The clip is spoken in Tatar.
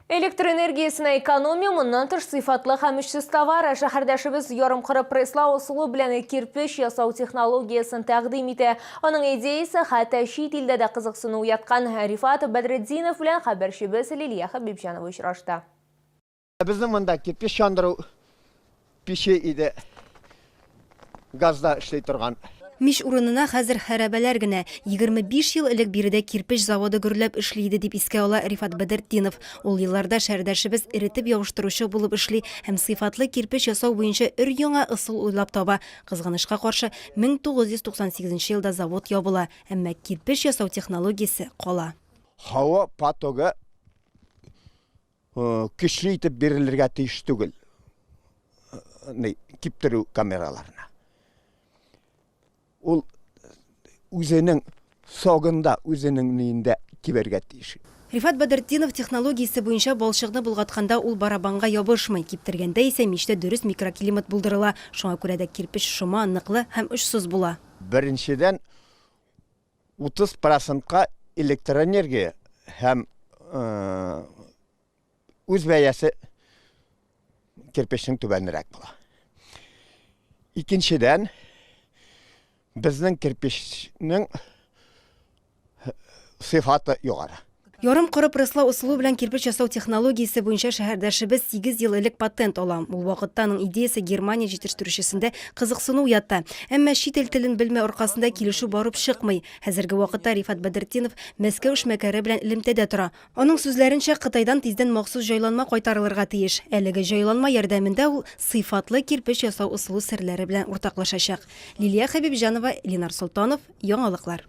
Электр энергиясенә экономия моннан тыш сыйфатлы һәм эшсез товар. Шәһәрдәшебез ярым кыры пресслау ысулы белән кирпеч ясау технологиясен тәкъдим итә. Аның идеясе хәтта чит илдә дә кызыксыну уяткан. Рифат Бәдретдинов белән хәбәрчебез Лилия Хәбибҗанова очрашты. Безнең монда кирпич чандыру пече иде. Газда эшли торган. Мич урынына хәзер хәрабәләр генә. 25 ел элек биредә кирпеч заводы гөрләп эшли иде, дип искә ала Рифат Бәдертдинов. Ул елларда шәһәрдәшебез эретеп ябыштыручы булып эшли һәм сыйфатлы кирпеч ясау буенча өр-яңа ысул уйлап таба. Кызганычка каршы, 1998 елда завод ябыла, әмма кирпеч ясау технологиясе кала. Һава потогы көчле итеп бирелергә тиеш түгел киптерү камераларына. Ул үзенең согында, үзенең ниендә кибергә тиеш. Рифат Бәдертдинов технологиясе буенча балчыкны болгатканда ул барабанга ябышмый, киптергәндә исә мичтә дөрес микроклимат булдырыла, шуңа күрә дә кирпеч шома, ныклы һәм очсыз була. Беренчедән, 30 процентка электроэнергия һәм үз бәясе кирпечнең түбәнрәк була. Икенчедән, безнең кирпечнең сыйфаты югары. Ярым коры пресслау ысулы белән кирпеч ясау технологиясе буенча шәһәрдәшебез 8 ел элек патент ала. Ул вакытта аның идеясе Германия җитештерүчесендә кызыксыну уята. Әмма чит ил телен белмәү аркасында килешү барып чыкмый. Хәзерге вакытта Рифат Бәдретдинов Мәскәү эшмәкәре белән элемтәдә тора. Аның сүзләренчә, Кытайдан тиздән махсус җайланма кайтарылырга тиеш. Әлеге җайланма ярдәмендә ул сыйфатлы кирпеч ясау ысулы серләре белән уртаклашачак. Лилия Хәбибҗанова, Ленар Солтанов, Яңалыклар.